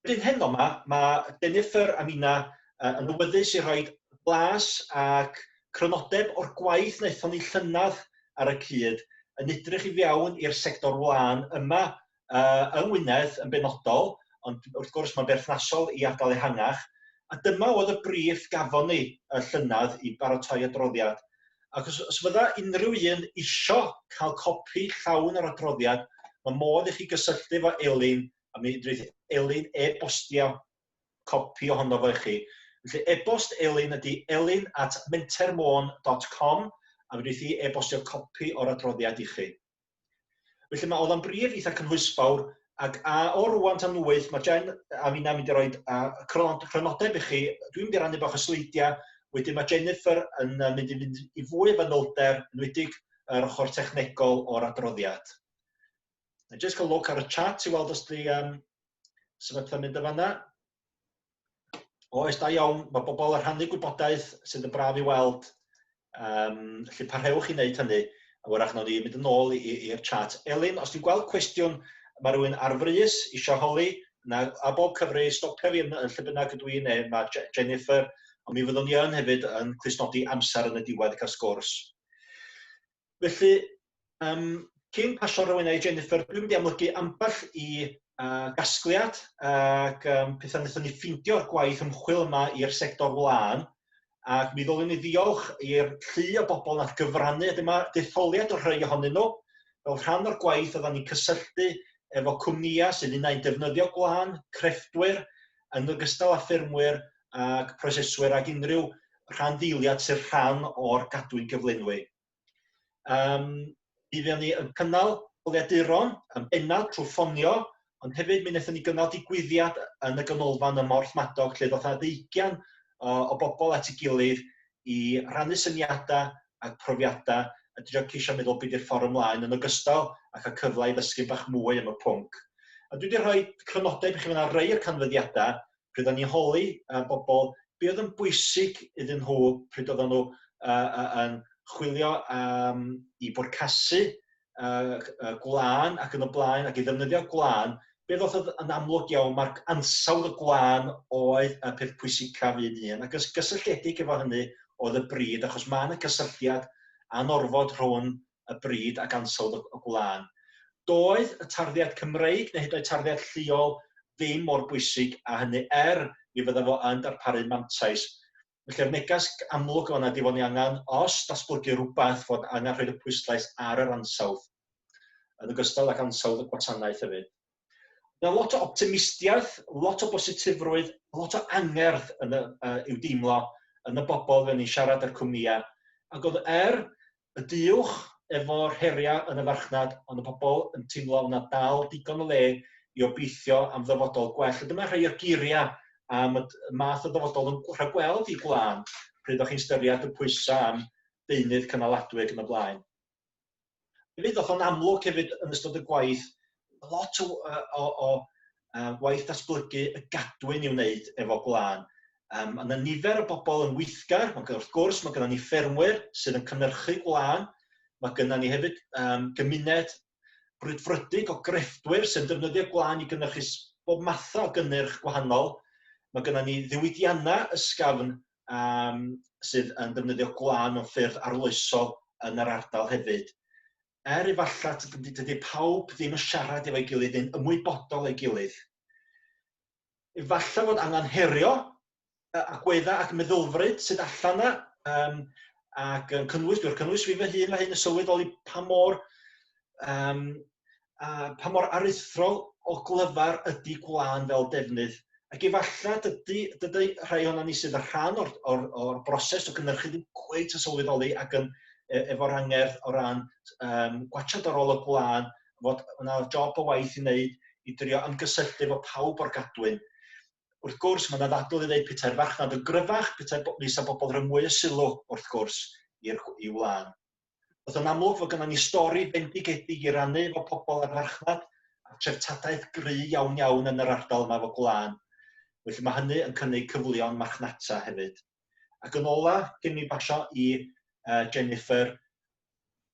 Bryd heno ma, mae Jennifer a Mina uh, yn awyddus i roi blas ac crynodeb o'r gwaith wnaethon ni llynedd ar y cyd yn edrych i fewn i'r sector wlân yma uh, yng Ngwynedd yn benodol, ond wrth gwrs mae'n berthnasol i ardal ehangach, a dyma oedd y brif gafon ni y llynedd i baratoi adroddiad. Ac os, os fydda unrhyw un isio cael copi llawn yr adroddiad, mae modd i chi gysylltu efo Elin a mi wneith Elin e-bostio copi ohono fo i chi. Felly e-bost Elin ydy elin at mentermôn.com a fe wneith i e-bostio copi o'r adroddiad i chi. Felly mae oedd o'n brif eitha cynhwysfawr ac a o rwan tan wyth mae Jen a finna'n mynd i roi chrynodeb i chi. Dwi'n mynd i rannu bach o sleidiau, wedyn mae Jennifer yn mynd i fynd i fwy o fanylder, yn wedig yr ochr technegol o'r adroddiad. A jyst cael look ar y chat i weld os di um, sefydlu'n mynd y fanna. Oes, da iawn, mae bobl yn rhannu gwybodaeth sydd yn braf i weld. Um, felly parhewch i wneud hynny, a wrach nawr ni mynd yn ôl i'r chat. Elin, os ti'n gweld cwestiwn, mae rhywun ar frys eisiau holi, na, a bob cyfri, stopio fi yn, yn lle bynnag ydw i'n ei, mae Jennifer, ond mi fyddwn ni yn hefyd yn clusnodi amser yn y diwedd i gael sgwrs. Felly, um, cyn pasio rhywun i Jennifer, dwi'n mynd i amlygu ambell i uh, gasgliad ac um, pethau wnaethon ni ffeindio'r gwaith ymchwil yma i'r sector wlân, ac mi ddolyn ni ddiolch i'r llu o bobl nath gyfrannu, a dyma detholiad o rhai ohonyn nhw, fel rhan o'r gwaith oedden ni'n cysylltu efo cwmnïau sydd unau'n defnyddio gwlân, crefftwyr, yn ogystal â ffermwyr ac proseswyr ac unrhyw rhan ddeiliad sy'n rhan o'r gadwyn gyflenwi. Um, bydd ni yn cynnal bwriaduron yn bennaf trwy ffonio, ond hefyd mi wnaethon ni gynnal digwyddiad yn y ganolfan ym Morth Madog lle ddoth na ddeugian o bobl at ei gilydd i rannu syniadau a profiadau a dwi wedi ceisio meddwl be 'di'r ffordd ymlaen yn ogystal a cael cyfle i ddysgu bach mwy am y pwnc. A dwi wedi rhoi crynodeb i chi fan 'na rei o'r canfyddiadau pryd o'n i'n holi uh, bobl be oedd yn bwysig iddyn nhw pryd oedden nhw uh, uh, yn chwilio am i bwrcasu uh, uh, gwlân ac yn y blaen, ac i ddefnyddio gwlân, be ddoth yn amlwg iawn, mae'r ansawdd y gwlân oedd y peth pwysicaf un un, ac yn gysylltiedig efo hynny oedd y bryd, achos mae yna cysylltiad anorfod rhwng y bryd ac ansawdd y gwlân. Doedd y tarddiad Cymreig neu hyd oed tarddiad lleol ddim mor bwysig a hynny, er mi fydda fo yn darparu mantais. Felly'r neges amlwg yma ydi fod ni angen, os datblygu rhywbeth, fod angen rhoi'r y pwyslais ar yr ansawdd, yn ogystal ag ansawdd y gwasanaeth hefyd. Mae lot o optimistiaeth, lot o bositifrwydd, lot o angerdd yn y, uh, i'w deimlo yn y bobl fe ni'n siarad â'r cwmnïau. Ac oedd er y du uwch efo'r heriau yn y farchnad ond y pobl yn teimlo fod 'na dal digon o le i obeithio am ddyfodol gwell. A dyma rhai o'r geiriau am y math o ddyfodol yn rhagweld i Gwlân, pryd o'ch chi'n styried y pwysau am deunydd cynaladwy ac yn y blaen. Hefyd ddoth o'n amlwg hefyd yn ystod y gwaith lot o, uh, o, o uh, waith datblygu y gadwyn i wneud efo gwlân. Um, mae yna nifer o bobl yn weithgar, mae wrth gwrs mae gennym ni ffermwyr sydd yn cynnyrchu gwlân, mae gennym ni hefyd um, gymuned brwydfrydig o grefftwyr sy'n defnyddio gwlân i gynnyrchu bob math o gynnyrch gwahanol. Mae gennym ni ddiwydiannau ysgafn um, sydd yn defnyddio gwlân mewn ffyrdd arloesol yn yr ardal hefyd. er efallai dydy, dydy pawb ddim yn siarad efo'i gilydd neu'n ymwybodol ei gilydd. Efallai fod angen herio agweddau ac meddylfryd sydd allan yna, um, ac yn cynnwys, dwi'n cynnwys fi fy hun mae hyn yn sylweddoli pa mor, um, a, pa mor aruthrol o glyfar ydy gwlân fel defnydd Ac efalla dydy, dydy rhai ohono ni sydd yn rhan o'r, or, or broses o gynnyrchu ddim cweit yn sylweddoli ac yn e, efo'r angerdd o ran um, gwachod ar ôl y gwlân, fod yna job o waith i wneud i drio ymgysylltu efo pawb o'r gadwyn. Wrth gwrs, mae yna ddadl i ddeud petai'r farchnad yn gryfach, petai fisa bobl rhoi mwy o sylw, wrth gwrs, i'r, i wlân. Oedd yn amlwg fod gynnon ni stori bendigedig i rannu efo pobl ar farchnad a treftadaeth gry iawn iawn yn yr ardal yma efo gwlân. Felly mae hynny yn cynnig cyfleon marchnata hefyd. Ac yn ola, cyn mi basio i uh, Jennifer,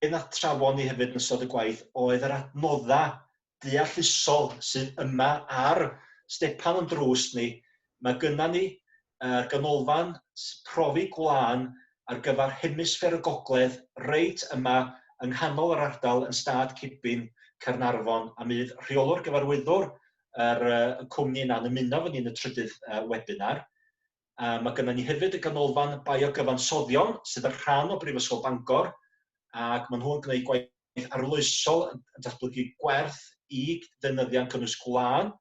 be na trafon ni hefyd yn ystod y gwaith oedd yr adnoddau deallusol sydd yma ar stepan o'n drws ni, mae gynna ni uh, ganolfan profi gwlân ar gyfer hemisffer y gogledd reit yma yng nghanol yr ardal yn stad Cibin, Caernarfon, a mydd rheolwr gyfarwyddwr yr, uh, y cwmni yna'n ymuno fy ni'n y trydydd uh, webinar. Yy ma' gynnon ni hefyd y Ganolfan Biogyfansoddion sydd yn rhan o Brifysgol Bangor ac ma' nhw'n gwneud gwaith arloesol yn yn datblygu gwerth i ddefnyddiau'n cynnwys gwlân.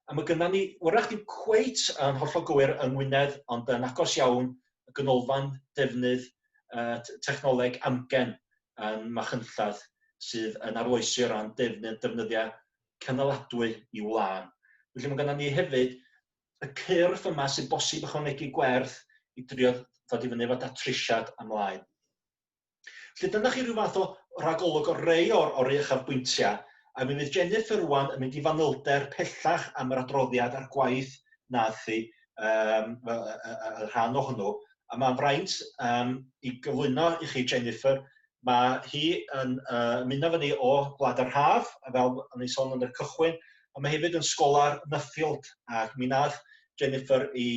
A ma' gynnon ni, wrach ddim cweit yn hollol gywir yng Ngwynedd ond yn agos iawn, y Ganolfan Defnydd yy t- Technoleg Amgen yn Machynlleth sydd yn arloesi o ran defnydd defnyddiau cynaladwy i wlân. Felly ma' gynnon ni hefyd y cyrff yma sy'n bosib ychwanegu gwerth i drio ddod i fyny efo datrisiad amlaen. Felly dyna chi rhyw fath o ragolwg o rei o'r, o'r uchafbwyntiau, a mi fydd Jennifer rwan yn mynd i fanylder pellach am yr adroddiad a'r gwaith nath hi um, y, y, y rhan o hwnnw. A mae'n fraint um, i gyflwyno i chi, Jennifer, Mae hi yn uh, muno fyny o Gwlad yr Haf, fel yn ei sôn yn y cychwyn, ond mae hefyd yn sgola'r Nuffield, ac mi nath Jennifer i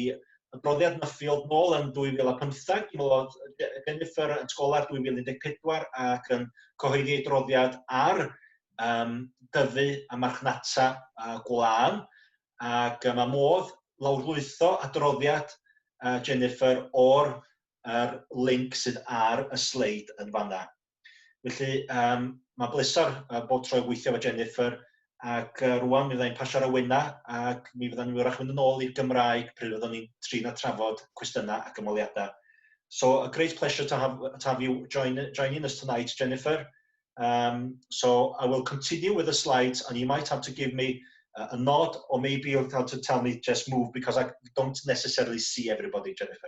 adroddiad Nuffield nôl yn 2015, mi oedd Jennifer yn sgola'r 2014 ac yn cyhoeddi ei droddiad ar um, dyfu a marchnata uh, gwlân, ac uh, mae modd lawrlwytho adroddiad uh, Jennifer o'r yr link sydd ar y sleid yn fanna. Felly, um, mae'n bleser uh, bob tro gweithio efo Jennifer, ac uh, rwan mi fyddai'n pasio'r awenau, ac mi fyddai'n ni wrach mynd yn ôl i'r Gymraeg pryd fyddwn ni'n trin a trafod cwestiynau ac ymweliadau. So, a great pleasure to have, to have you join, joining us tonight, Jennifer. Um, so I will continue with the slides and you might have to give me uh, a nod or maybe you'll have to tell me just move because I don't necessarily see everybody, Jennifer.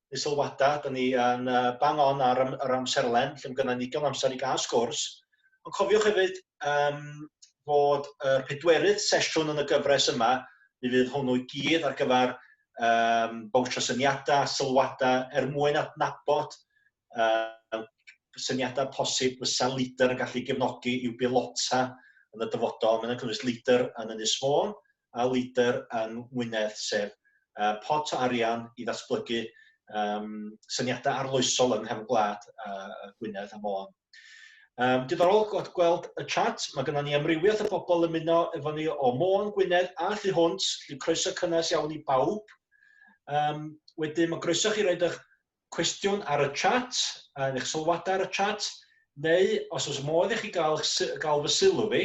neu sylwada, da ni yn uh, bang on ar am, yr amserlen, lle mae gennym ni digon amser i gael sgwrs. Ond cofiwch hefyd um, fod y uh, pedwerydd sesiwn yn y gyfres yma, mi fydd hwnnw i gyd ar gyfer um, bawsio syniadau, sylwadau, er mwyn adnabod um, syniadau posib fysa leader yn gallu gefnogi i'w bilota yn y dyfodol. Mae'n cynnwys leader yn Ynys Môn, a leader yng Ngwynedd sef yy pot o arian i ddatblygu yym syniadau arloesol yng nghefn gwlad yy Gwynedd a Môn. Um, diddorol gweld, gweld y chat, mae gennym ni amrywiaeth o bobl ymuno efo ni o Môn, Gwynedd a Thu Hwnt, felly croeso cynnes iawn i bawb. Um, wedyn mae groeso chi roed eich cwestiwn ar y chat, yn eich sylwadau ar y chat, neu os oes modd i chi gael, gael fy sylw fi,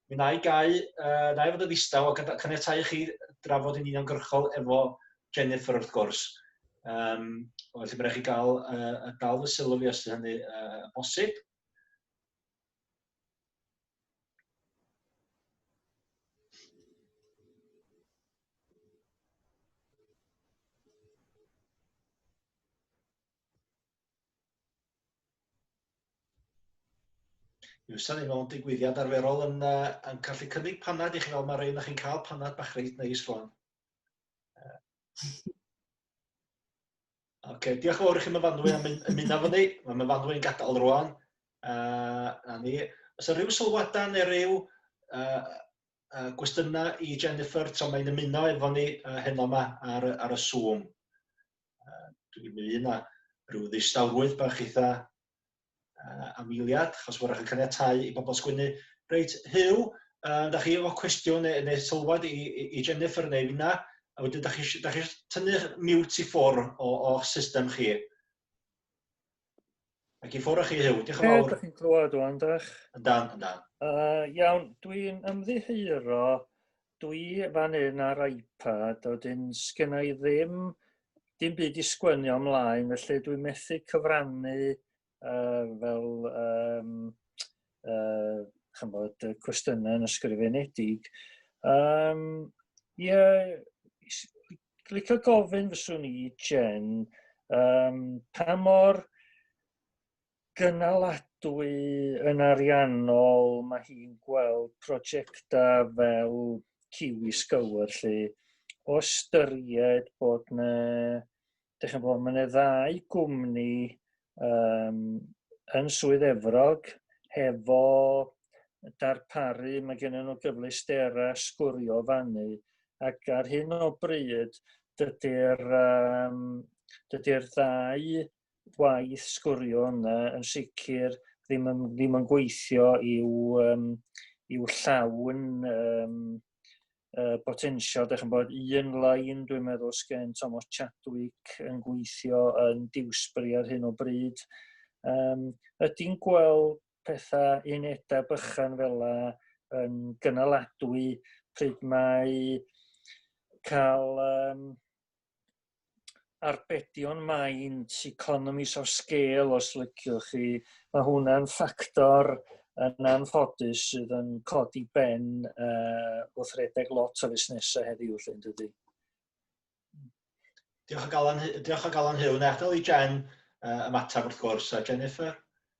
mi na i gau, uh, na i fod yn ddistaw ac yn caniatau chi drafod yn uniongyrchol efo Jennifer wrth gwrs. Um, felly mae'n rhaid chi gael, uh, gael fy sylw fi os ydy hynny uh, bosib. Yw sylwi mewn digwyddiad arferol yn, uh, yn gallu cynnig panad i chi fel mae rhaid na chi'n cael panad bach reit neis rwan. Oce, okay, diolch yn fawr i chi myfanwy am ymuno efo ni. Mae myfanwy yn gadael rwan. Uh, a ni, os yna rhyw sylwadau neu rhyw uh, uh, gwestiynau i Jennifer tra mae'n ymuno efo ni uh, heno yma ar, ar y Zoom. Uh, Dwi'n mynd yna rhyw ddistawrwydd bach eitha uh, am eiliad, achos wrach yn caniatau i bobl sgwynnu. Reit, Huw, uh, da chi efo cwestiwn neu, neu sylwad i, i, i Jennifer neu fyna, a wedyn da chi, da chi tynnu mute i ffwr o'ch system chi. Ac i ffwr o chi Huw, diolch yn fawr. Ydych chi'n clywed o'n dach? Yn dan, yn dan. Uh, iawn, dwi'n ymddiheuro Dwi fan hyn ar iPad a wedyn sgynna i ddim dim byd i sgwynio ymlaen felly dwi'n methu cyfrannu uh, fel um, uh, chymod, cwestiynau yn ysgrifenedig. Um, yeah, licio gofyn fyswn i Jen um, pa mor gynaladwy yn ariannol, mae hi'n gweld prosiectau fel Kiwi Scour lle o ystyried bod na, dych chi'n bod, mae yna ddau gwmni um, yn Swydd Efrog hefo darparu, mae gen nhw gyfleusterau sgwrio fannu ac ar hyn o bryd dydy'r um, dydy'r ddau gwaith sgwrio yna yn sicr ddim yn, ddim yn gweithio i'w, um, i'w llawn um, uh, potensial. Dych chi'n bod un lain, dwi'n meddwl, sgen Thomas Chadwick yn gweithio yn Dewsbury ar hyn o bryd. Um, ydy'n gweld pethau unedau bychan fel la yn gynaladwy pryd mae cael um, arbedion maint, economies of scale os liciwch chi, mae hwnna'n ffactor yn anffodus sydd yn codi ben uh, wrth redeg lot o fusnesau heddiw lle yn dydy. Diolch o galon, diolch o galon Huw. Wna i adael i Jen uh, ymateb wrth gwrs, a Jennifer?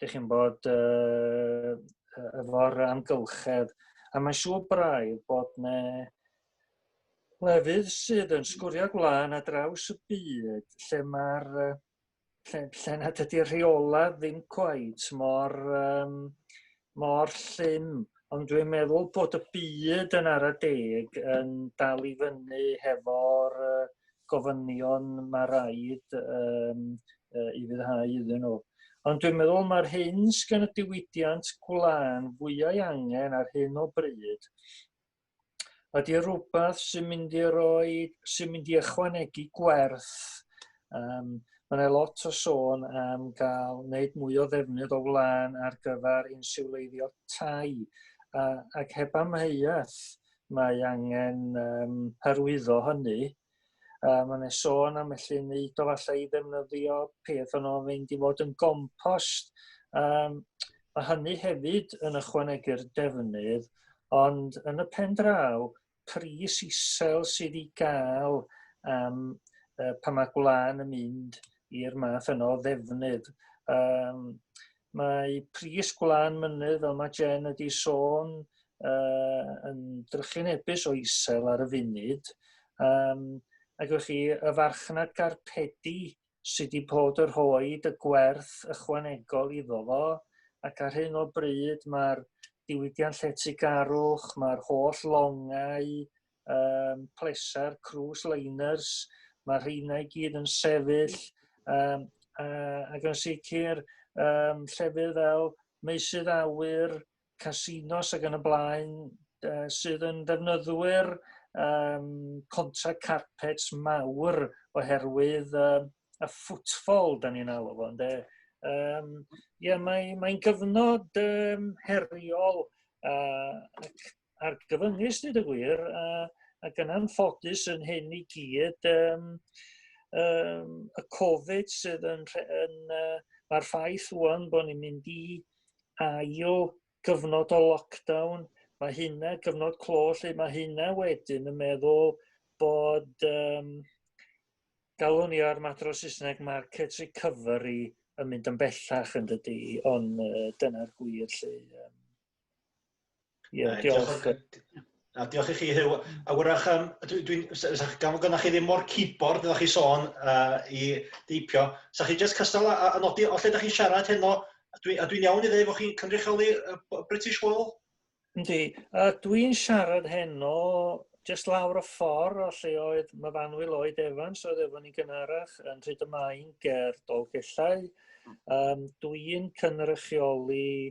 dych chi'n bod, uh, efo'r amgylchedd, a mae'n siŵr braidd bod ne lefydd sydd yn sgwrio gwlân a draws y byd lle mae'r uh, lle, lle na dydy'r rheola ddim cweit mor, um, mor llym, ond dwi'n meddwl bod y byd yn ara deg yn dal i fyny hefo'r uh, gofynion mae rhaid um, uh, i fyddhau iddyn nhw. Ond dwi'n meddwl mae'r hyn sgan y diwydiant gwlân fwyau angen ar hyn o bryd ydy rhywbeth sy'n mynd i roi, sy'n mynd i ychwanegu gwerth. Um, Mae yna lot o sôn am gael wneud mwy o ddefnydd o wlân ar gyfer insiwleiddio tai, uh, ac heb amheuaeth, mae angen um, hyrwyddo hynny. Uh, mae yna sôn am felly wneud o falle i ddefnyddio peth o'n o'n fynd i fod yn gompost. Um, mae hynny hefyd yn ychwanegu'r defnydd, ond yn y pen draw, pris isel sydd i gael um, uh, pan mae gwlân yn mynd i'r math yno o ddefnydd. Um, Mae pris gwlân mynydd, fel mae Jen wedi sôn, uh, yn drychinebus o isel ar y funud. Um, ac ywch chi, y farchnad garpedi sydd wedi bod yr hoed y gwerth ychwanegol iddo fo, ac ar hyn o bryd mae'r diwydiant lletygarwch, mae'r holl longau, um, pleser, cruise liners, mae rheina i gyd yn sefyll, um, uh, ac yn sicr um, llefydd fel meusydd awyr, casinos ac yn y blaen, uh, sydd yn defnyddwyr um, contra carpets mawr oherwydd um, y ffwtfol, da ni'n alw fo, ynde? Um, yeah, Mae'n mae gyfnod um, heriol uh, ac a'r gyfyngus dweud y gwir, a, a gyna'n ffodus yn hyn i gyd, um, um, y Covid sydd yn, yn uh, mae'r ffaith wwan bod ni'n mynd i ail gyfnod o lockdown, mae hynna, gyfnod clo lle mae hynna wedyn yn meddwl bod, um, galwn ni ar mater o Saesneg, market recovery yn mynd yn bellach yn dydy, ond uh, dyna'r gwir lle. Um, Ie, uh, diolch. diolch. A diolch i chi, Hyw. A wrach, um, dwi, dwi, gan fod chi ddim mor keyboard ydych chi sôn uh, i deipio, sa chi jyst cystal a, a nodi o lle ydych chi'n siarad heno, a dwi'n dwi iawn i ddweud bod chi'n cynrychioli uh, British Wall? Yndi, a dwi'n siarad heno jyst lawr y ffordd o lle oedd Myfanwy Lloyd Evans oedd efo ni gynharach yn rhyd y maen ger Dolgellau. Um, dwi'n cynrychioli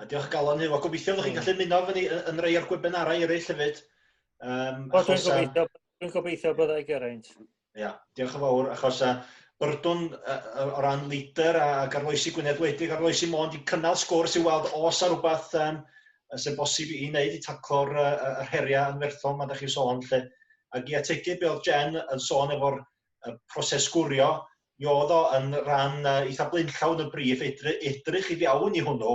A diolch galon Huw, a gobeithio bod chi'n gallu ymuno efo ni yn rei o'r gwebinarau eraill hefyd. Um, o, dwi'n gobeithio, dwi'n gobeithio byddai geraint. Ia, diolch yn fawr, achos uh, byrdwn uh, o ran leader a, a garloesi Gwynedd Wledig, arloesi Mond i cynnal sgwrs i weld os ar rhywbeth um, sy'n bosib i wneud i taclo'r uh, uh, heriau yn werthol mae ydych chi'n sôn lle. Ac i ategu be oedd Jen yn sôn efo'r uh, proses gwrio, mi o'dd o yn ran yy eitha blaenllaw yn y briff edry- edrych i fewn i hwnnw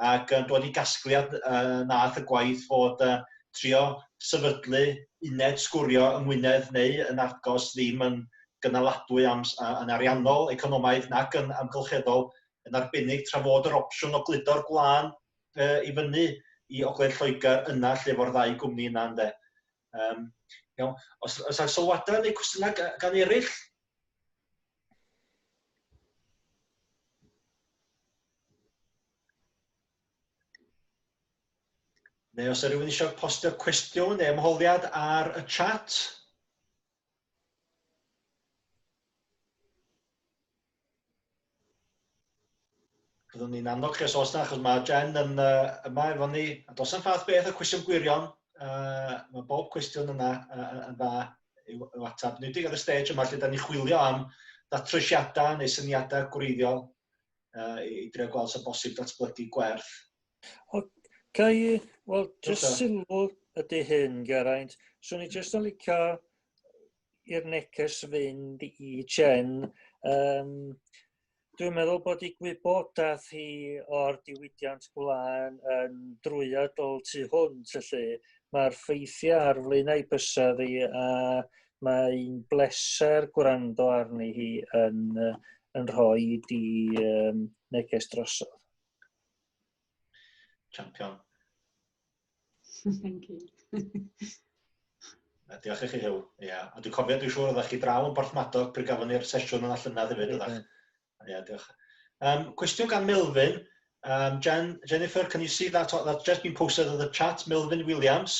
ac yn dod i gasgliad yy nath y gwaith fod yy trio sefydlu uned sgwrio yng Ngwynedd neu yn Argos ddim yn gynaladwy am yn ariannol, economaidd nac yn amgylcheddol, yn arbennig tra fod yr opsiwn o gludo'r gwlân yy i fyny i ogledd Lloegr yna lle fo'r ddau gwmni yna ynde. Um, iawn. Os, os ar sylwadau neu cwestiynau gan eraill? Neu os ydych rhywun eisiau postio cwestiwn neu ymholiad ar y chat? Byddwn ni'n annog chi os oes na, achos mae Jen yn uh, yma efo ni. A dos yn fath beth o cwestiwn gwirion, uh, mae bob cwestiwn yna uh, yn dda i'w, i'w atab. Nid ar y stage yma lle da ni chwilio am ddatrysiadau neu syniadau gwreiddiol uh, i, i drio gweld sy'n bosib datblygu gwerth O, ca i, wel, jyst okay. sylw ydy hyn, Geraint. So ni jyst yn licio i'r neges fynd i Jen. Um, Dwi'n meddwl bod i gwybodaeth hi o'r diwydiant gwlân yn drwyadol tu hwnt, felly mae'r ffeithiau ar flaenau bysedd hi a mae'n bleser gwrando arni hi yn, yn rhoi di um, neges drosodd. Champion. Thank you. Diolch i chi Huw. Ia, ond dwi'n cofio dwi'n siŵr oeddech chi draw yn Porthmadog pryd gafon ni'r sesiwn yna llynedd hefyd oeddech. Ia, diolch. Um, cwestiwn gan Melvin. Um, Jen, Jennifer, can you see that, that's just been posted in the chat? Melvin Williams.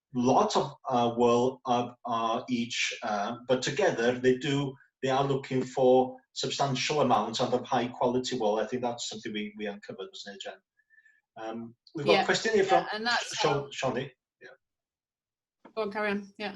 lot o ŵyl ar each but together they do they are looking for substantial amount and of high quality wool I think that's something we we uncovered was it Jen um we've got yeah, a question here yeah, from Shoni yeah go on carry on yeah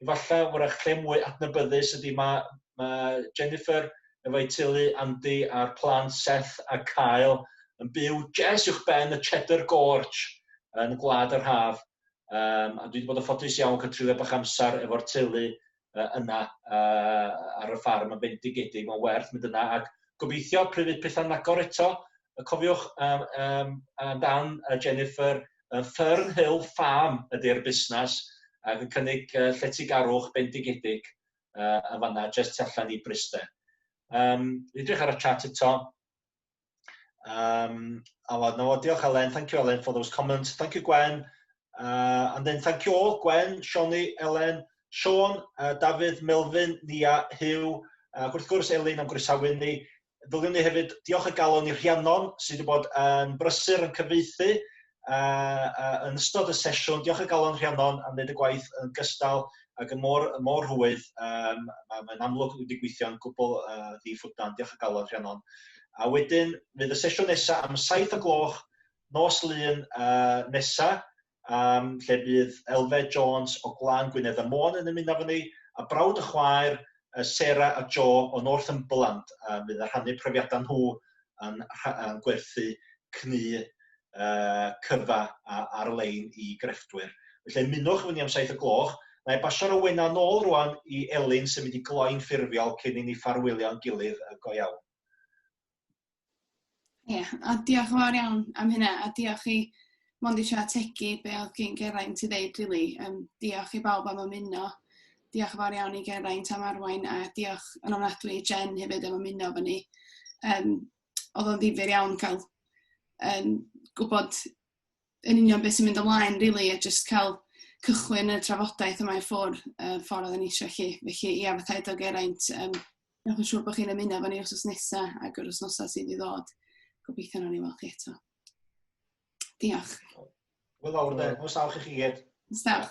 efallai, wrach lle mwy adnabyddus ydy mae, mae Jennifer efo'i teulu, Andy a'r plant Seth a Kyle, yn byw jes uwch ben y Cheddar Gorge yn Gwlad yr Haf. Um, a dwi wedi bod yn ffodus iawn cael trulio bach amser efo'r teulu uh, yna uh, ar y ffarm yn bendigedig. Mae'n werth mynd yna ac gobeithio pryd fydd pethau'n agor eto, cofiwch um, um, amdan uh, Jennifer Yy Fern Hill Farm ydi'r busnas ac yn cynnig yy lletygarwch bendigedig yy yn fan'na jyst tu allan i Bryste. Yym dwi'n edrych ar y chat eto. Um, Aled, no, diolch Elen, thank you Elen for those comments, thank you Gwen, uh, and then thank you all, Gwen, Sioni, Elen, Sean, uh, Dafydd, Melvin, Nia, Hugh, ac wrth gwrs Elin am groesawu ni, Ddylen ni hefyd diolch o galon i Rhiannon sydd wedi bod yn brysur yn cyfreithu uh, uh, yn ystod y sesiwn. Diolch o galon Rhiannon am wneud y gwaith yn gystal ac yn mor, yn mor rhwydd. Um, Mae'n amlwg wedi gweithio'n gwbl uh, ddiffwdan. Diolch o galon Rhiannon. A wedyn fydd y sesiwn nesaf am 7 o gloch nos lun uh, nesaf um, lle bydd Elfed Jones o Glan Gwynedd a Môn yn ymuno efo ni, a brawd y chwaer, Sarah a Joe o Northumberland, a bydd yn rhannu profiadau nhw yn, yn gwerthu cnu uh, cyfa ar-lein i grefftwyr. Felly ymunwch efo ni am saith y gloch. Mae basio'r awena nôl rwan i Elin sy'n mynd i gloi'n ffurfiol cyn i ni ffarwylio'n gilydd go iawn. Ie, a diolch yn fawr iawn am hynna, a diolch i mond eisiau ategu be oedd gen Geraint i ddeud, really. Um, diolch i bawb am ymuno. Diolch yn fawr iawn i Geraint am arwain, a diolch yn ofnadwy i Jen hefyd am ymuno fy ni. Um, oedd o'n ddifur iawn cael um, gwybod yn union beth sy'n mynd ymlaen, really, a just cael cychwyn y trafodaeth yma i ffwrdd, y ffordd oedden ni eisiau chi. Felly, ia, fatha edo Geraint, um, newch yn siŵr bod chi'n ymuno fan ni os oes nesaf ac yr osnosau sydd i ddod. Gobeithio nhw'n ei weld chi eto. Diolch. Wel fawr, de. Os awch i chi gyd. Os awch.